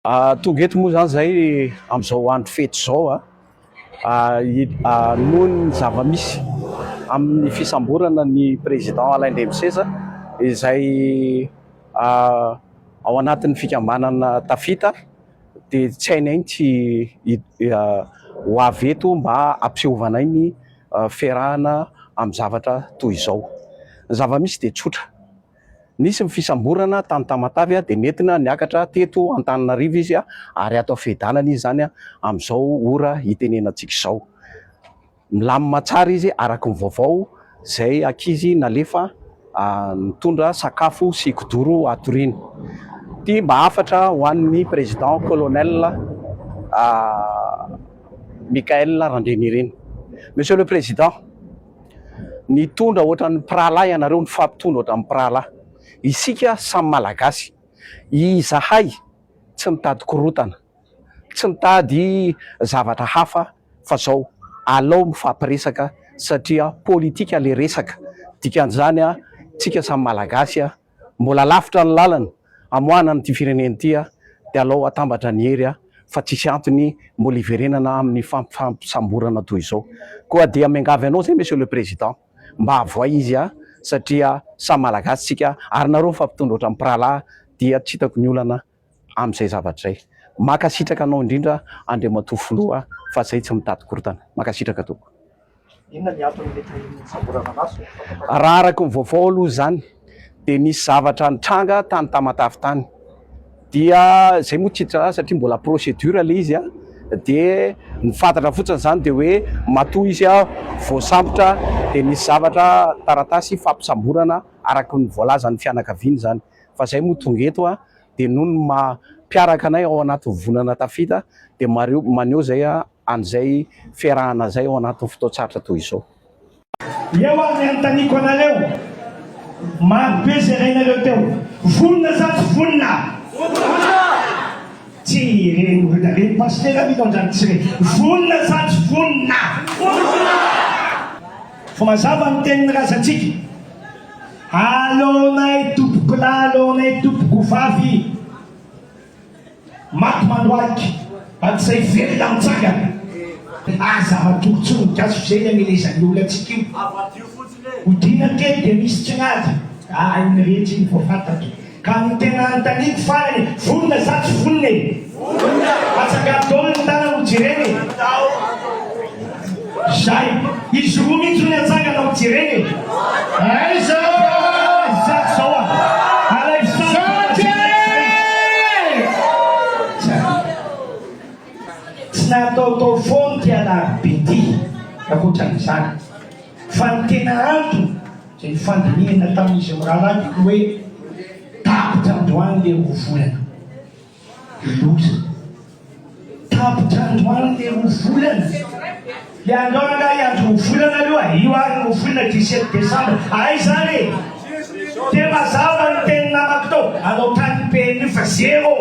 Tonga eto moa izany izahay amin'izao andro fety izao noho ny zava-misy amin'ny fisamborana ny Président Alain Ndriamiseza izay ao anatin'ny fikambanana Tafita dia tsy hainay tsy ho avy eto mba hampiseovanay ny fiarahana amin'ny zavatra toy izao. Ny zava-misy dia tsotra. Nisy ny fisamborana tany Tamatave dia nentina niakatra teto Antananarivo izy ary ato Fehidanana izy izany amin'izao ora hitenenantsika izao. Milamina tsara izy araka ny vaovao izay ankizy nalefa nitondra sakafo sy kidoro hatoriany. Ity mba hafatra ho an'ny Président Colonel Michaël Randrianirina. Monsieur le Président. Nitondra ohatran'ny mpirahalahy ianareo, nifampitondra ohatran'ny mpirahalahy. Isika samy Malagasy. Izahay tsy mitady korontana, tsy mitady zavatra hafa fa izao, alao mifampiresaka satria politika ilay resaka. Dikan'izany, isika samy Malagasy. Mbola lavitra ny lalana hamoahana an'ity firenena ity dia alao hatambatra ny hery fa tsisy antony mbola hiverenana amin'ny fifampisamborana toy izao. Koa dia miangavy anao zay Monsieur le Président mba avoay izy satria samy Malagasy tsika ary nareo fa mpitondra ohatran'ny mpirahalahy dia tsy hitako ny olana amin'izay zavatra izay. Makasitraka anao indrindra Andriamatoa Filoha fa zay tsy mitady korotana. Makasitraka tompoko. Inona ny antony mety ahian'ny fisamborana maso? Raha araka ny vaovao aloha izany dia nisy zavatra nitranga tany Tamatave tany dia zay moa tsy hiditra azy satria mbola procédure ilay izy dia ny fantatra fotsiny izany dia hoe matoa izy voasambotra dia nisy zavatra taratasy fampisamborana araka ny voalazan'ny fianakaviany izany. fa zay moa tonga eto a de noho ny maha mpiaraka anay ao anatin'ny volana tafita de mareo maneho zay a an'izay fiarahana zay ao anatin'ny fotoan-tsarotra toy izao. Eo ary ny anontaniako anareo, maro be zay rainareo teo, vonona sa tsy vonona? Vonona! Tsy re ny olona re ny pasitera ve taonjany tsy re? Vonona sa tsy vonona? Vonona! Fa mazava ny tenin'ny razantsika. Aleonay tompokolahy aleonay tompokovavy maty mandohalika hatrizay velona mitsangana Aza matory tsony ny gasy f'izay ny amelezan'ny olona antsika io Odiana kely dia misy tsinady Aa iny rehetra iny voafantatro Ka ny tena anontaniako farany, vonona sa tsy vonona e? Vonona! Atsangaro daholo ny tanana ho jerena e! Zay! Izy roa mihitsy hono atsangana ho jerena e! Aiza izaho zao a! Alaivo sary fa mba jerena izay! Tsy nataotao foana ity Alarobe ity, ankoatran'izany. Fa ny tena antony Izay nifandinihana tamin'izy mirahalahy dia toa hoe tapitra androany ilay roa volana. Loza. Tapitra androany ilay roa volana. Ilay andro rangahy hiandry roa volana aloha, io ary roa volana 17 desambra. Ay izany e! Dia mazava ny teny namako tao, any an-tanin'ny PNU fa zéro.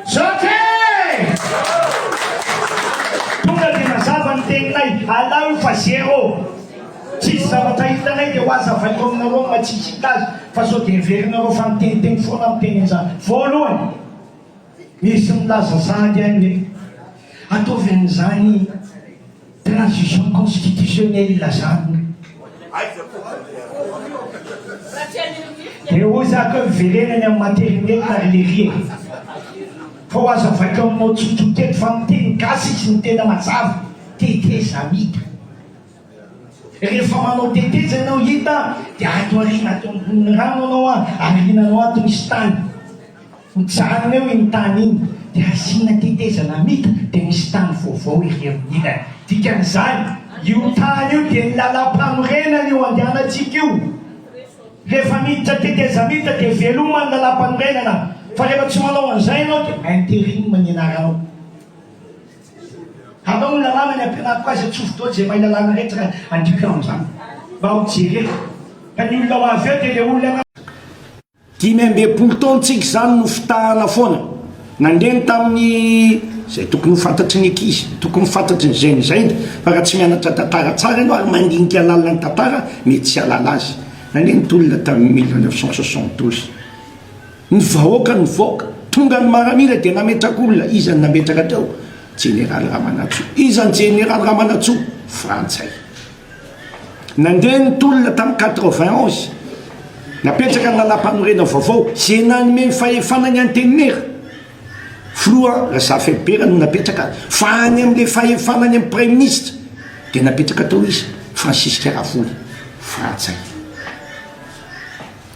Zoky! Tonga dia mazava ny teninay, alao io fa zéro. Tsisy zavatra hitanay dia ho azy havaiko aminareo amin'ny maha tsy hita azy fa sao dia heverinareo fa miteniteny foana aho miteny an'izany. Voalohany, misy milaza sahady any hoe ataovy an'izany transition constitutionnelle izany. Dia hoy za keo hiverena any amin'ny materinelina ry lery e! Fa ho azy havaiko aminao tsotsotra eto fa miteny gasy izy ny tena mazava, tetezamita. Rehefa manao teteza ianao hita dia ato aoriana ato ambonin'ny rano anao an, aoriana anao ato misy tany, hojanona eo iny tany iny dia asiana teteza namita dia misy tany vaovao ery amin'ny ilany. Dikan'izany, io tany io dia ny lalam-panorenana io andehanantsika io. Rehefa miditra teteza mita dia veloma ny lalam-panorenana, fa rehefa tsy manao an'izay ianao dia interim ny anaranao. Hanao ny lalàna ny ampianariko azy Atsofoka daholo izay mahay lalàna rehetra ka andiako ianao amin'izany Mba ho jereko Ka ny olona ho avy eo dia ilay olona na. Dimy ambin'ny folo taon-tsika izany no fitahana foana Nandreny tamin'ny izay tokony ho fantatry ny ankizy Tokony ho fantatry ny zai'ny zainy Fa raha tsy mianatra tantara tsara ianao ary mandinika lalina ny tantara mety tsy hahalala azy Nandreny tolona tamin'ny mille neuf cent soixante douze. Ny vahoaka nivoaka, tonga ny maramila dia nametraka olona, iza no nametraka teo? Jeneraly Ramanantsoa, iza ny Jeneraly Ramanantsoa? Frantsay. Nandeha ny tolona tamin'ny quatre-vingt onze, napetraka ny Lalampanorenana vaovao, izay nanome ny fahefana ny Antenimiera, Filoha Razafiaribera no napetraka azy, fa any amin'ilay fahefana any amin'ny Praiminisitra dia napetraka tao iza? Francisque Ravory, Frantsay.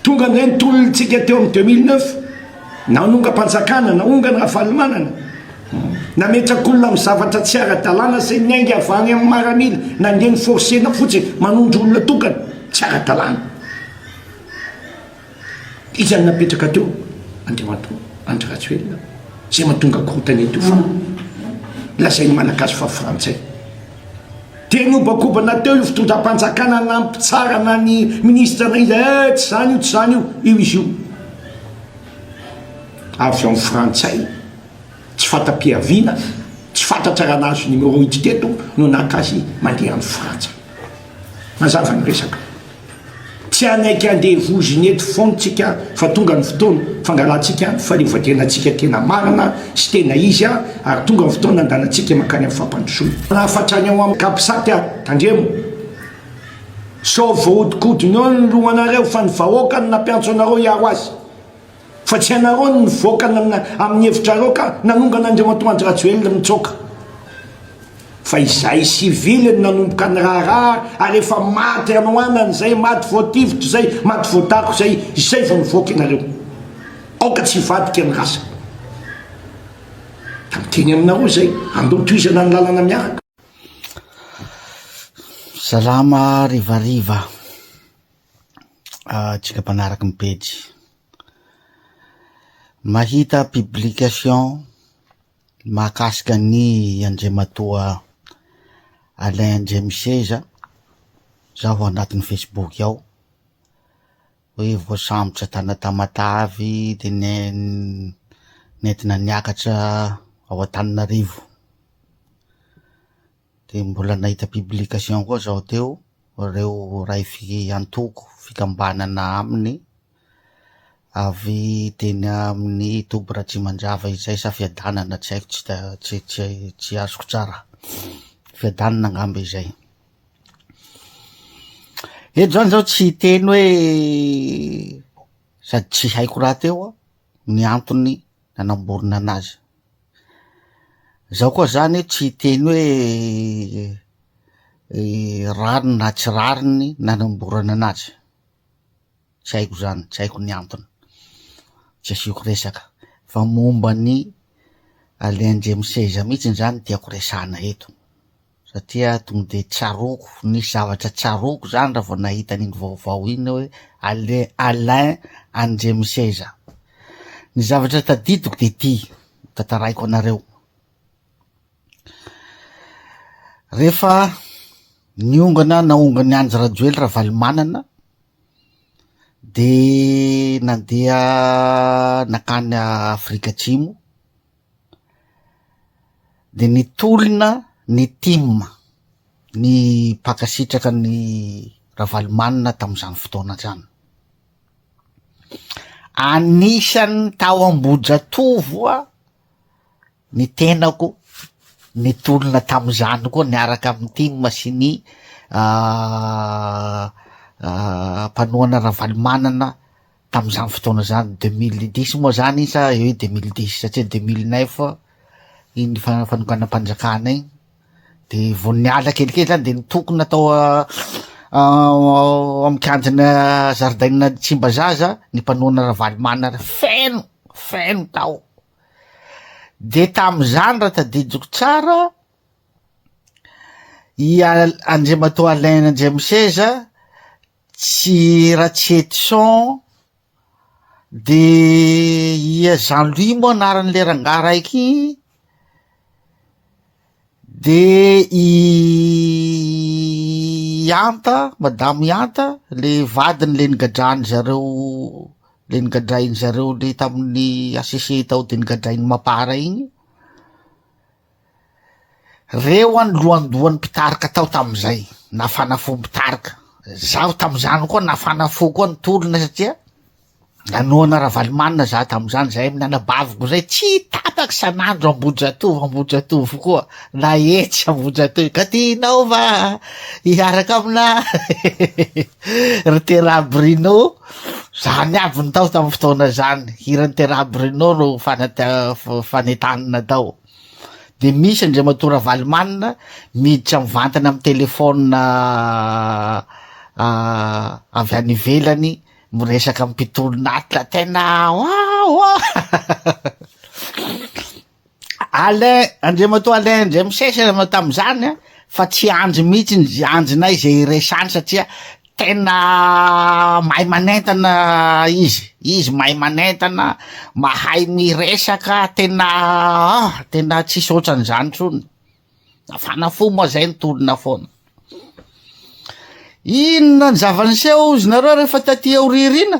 Tonga indray ny tolontsika teo amin'ny deux mille neuf, nanongam-panjakana, naongana Ravalomanana, nametrak'olona amin'ny zavatra tsy ara-dalàna izay niainga avy any amin'ny maramila, nandeha ni-forcer-na fotsiny, manondro olona tokana, tsy ara-dalàna. Iza no napetraka teo? Andriamatoa Andry Rajoelina, izay mahatonga korontana eto io fa lazain'ny Malagasy fa Frantsay. Dia niobakobana teo io fitondram-panjakana nampitsarana ny minisitra na iza eh, tsy izany io, tsy izany io, io izy io avy amin'ny frantsay tsy fanta-piaviana, tsy fantatra raha nahazo numéro hiditra eto no naka azy mandeha any frantsa. Mazava ny resaka. Tsy hanaiky andevozina eto foana tsika fa tonga ny fotoana fangalantsika ny fahaleovantenantsika tena marina sy tena izy ary tonga ny fotoana andalantsika mankany amin'ny fampandrosoana. Lafatra ny ao amin'ny Capsat a! Tandremo! Sao voahodikodin'eo ny lohanareo fa ny vahoaka no nampiantso anareo hiaro azy. Fa tsy ianareo no nivoaka amin'ny hevitrareo ka nanongana Andriamatoa Andry Rajoelina nitsoaka. Fa izay civil no nanomboka niraharaha ary efa maty hanoanana izay, maty voatifitra izay, maty voatako izay, izay vao nivoaka ianareo. Aoka tsy hivadika ny rasa. Ka miteny aminareo izay, andao tohizana ny lalana miaraka. Salama harivariva. antsika mpanaraky ny pejy. Mahita publication mahakasika ny Andriamatoa Alain Ndriamiseza zaho ao anatin'ny Facebook ao, hoe voasambotra tana Tamatave dia ne- nentina niakatra ao Antananarivo. Dia mbola nahita publication koa zao teo ireo iray antoko fikambanana aminy avy teny amin'ny toby Ratrimandrava izay sa Fiadanana tsy haiko tsy tsy tsy azoko tsara Fiadanana angamba izay eto zany zao tsy hiteny hoe sady tsy haiko rahateo ny antony nanamborona anazy. Zaho koa zany tsy hiteny hoe rariny na tsy rariny nanamborana anazy, tsy haiko zany, tsy haiko ny antony, tsy asiako resaka fa momba an'i Alain Ndriamiseizah mihitsy zany no tiako resahana eto. satria tonga dia tsaroako, nisy zavatra tsaroako izany raha vao nahita an'iny vaovao iny hoe Alain, Alain Andriamiseza. Ny zavatra tadidiko dia ity, tantaraiko anareo. Rehefa niongana naongany Andry Rajoely Ravalomanana dia nandeha nakany Afrika Atsimo, Dia nitolona ny tim, ny mpankasitraka an'i Ravalomanana tamin'izany fotoana izany. Anisan'ny tao Ambohijatovo aho, ny tenako nitolona tamin'izany koa niaraka amin'ny tim sy ny mpanohana Ravalomanana Tamin'izany fotoana izany, 2010 moa izany sa eo hoe 2010, satria 2009 iny fa- fanonganam-panjakana iny, dia vao niala kelikely izany dia nitokona tao a- ao amin'ny kianjana zaridaina Tsimbazaza ny mpanohana Ravalomanana, feno, feno tao. Dia tamin'izany raha tadidiko tsara, i Al- Andriamatoa Alain Andriamiseza, Tsy Ratsietison de i Jean Louis moa anaran'ilay rangahy raiky igny de i Anta madamo i Anta le vadiny le nigadrany zareo le nigadrainy zareo le tamin'ny HCC tao de nigadrain'i Mapar igny. Reo any lohandohan'ny mpitarika tao tamin'izay nafana fo mpitarika. Zaho tamin'izany koa nafana fo koa ny tolona satria nanohana Ravalomanana za tamin'izany zahay amin'ny anabaviko zay tsy tapaka isan'andro Ambohijatovo Ambohijatovo koa na etsy Ambohijatovo ka tianao va hiaraka amina ry Tera Bruno zany aby ny tao tamin'ny fotoana zany hiran'ny Tera Bruno no fanentanina tao dia misy Andriamatoa Ravalomanana miditra mivantana amin'ny téléphone avy any ivelany miresaka amin'ny mpitolon'Atra tena wawa Alain Andriamatoa Alain indray misesy ianao tamin'izany a fa tsy andry mihitsy ny andrinay izay iresany satria Tena mahay manentana izy, izy mahay manentana, mahay miresaka, tena ah, tena tsisy otran'izany intsony, nafana fo moa zay nitolona foana. Inona ny zava-niseho hozy nareo rehefa taty aoriariana?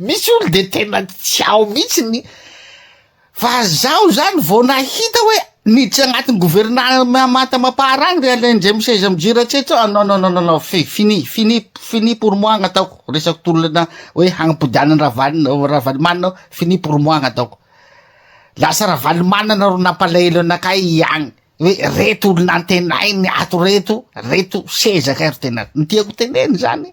Misy olo de tena tsy ao mihitsy ny fa zaho zany vao nahita hoe niditra agnatin'ny governemanta mapar agny ry Alain Ndray miseza mijery ratsiratra ah non non non non non fi- fini fini fini pour moi gn'ataoko resako tolona hoe hagnapodiana an'i Ravalo Ravalomanana aho fini pour moi gn'ataoko lasa Ravalomanana ro nampalahelo anakay agny hoe reto olona antenainy ato reto reto sezaka ry tena ny tiako teneny zany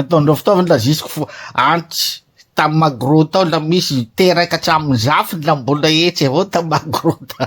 ataon'ireo fitaovana la jusqu'au antitsy tam magro tao la misy teraka hatramin'ny zafy la mbola etsy avao tam magro tao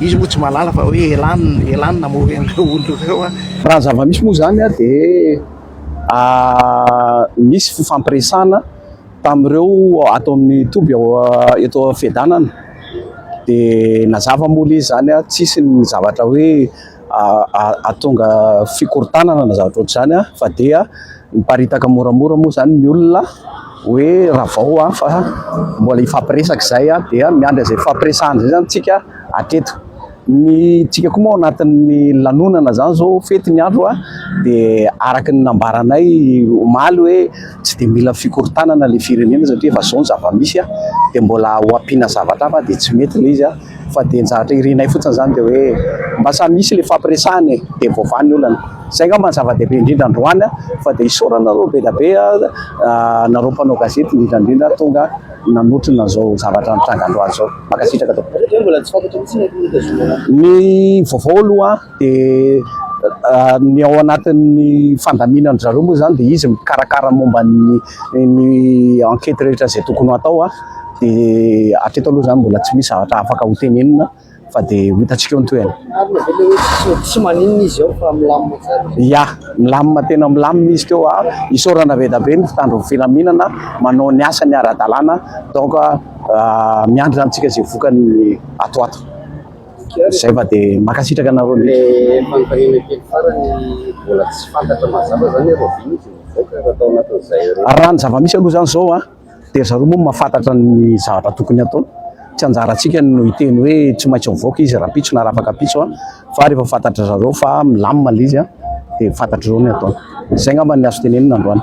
Izy moa tsy mahalala fa hoe elan elan namory an'ireo olona ireo an. Raha ny zava-misy moa izany an dia nisy fifampiresahana tamin'ireo ato amin'ny toby ao eto Fedanana dia nazava moa ilay izy izany an, tsisy ny zavatra hoe. atonga fikorontanana na zavatra ohatr'izany fa dia miparitaka moramora moa izany ny olona hoe ravao fa mbola hifampiresaka izay dia miandry izay hifampiresahana izay izany tsika hatreto. Ny tsika koa moa ao anatin'ny lanonana izany izao fety ny andro dia araka ny nambaranay omaly hoe tsy dia mila fikorontanana ilay firenena satria efa izao ny zava-misy dia mbola ho ampiana zavatra hafa dia tsy mety ilay izy. Fa dia zatra irinay fotsiny izany dia hoe mba samy misy ilay hifampiresahana e! Dia voavaha ny olana. Izay angamba no zava-dehibe indrindra androany fa dia isaorana anareo be dia be anareo mpanao gazety indrindra indrindra tonga nanotrona izao zavatra nitranga androany izao. Mankasitraka tompoko. Ny vaovao aloha. Dia ny ao anatin'ny fandaminan'dry zareo moa izany dia izy mikarakara momba ny ny enquête rehetra izay tokony ho atao an, dia hatreto aloha izany mbola tsy misy zavatra afaka ho tenenina fa dia ho hitantsika eo ny tohiny. Ary le avela hoe tsy misy tsy maninona izy ao fa milamina tsara. Ia, milamina tena milamina izy teo an, isaorana be dia be ny mpitandron'ny filaminana manao ny asany ara-dalàna donc miandry antsika izay vokany ato ho ato. Zay fa de makasitraka anareo ndrindra. Le fanontaniana kely farany mbola tsy fantatra mazava zany hoe Robin izy mivoaka raha tao anatin zay roa. Raha ny zava misy aloha zany zao an de ry zareo moa mahafantatra ny zavatra tokony hatao, tsy anjarantsika no hiteny hoe tsy maintsy mivoaka izy rampitso na rafakapitso an, fa rehefa fantatry zareo fa milamina le izy an de fantatrareo ny ataony. Zay ngamba ny azo tenenina androany.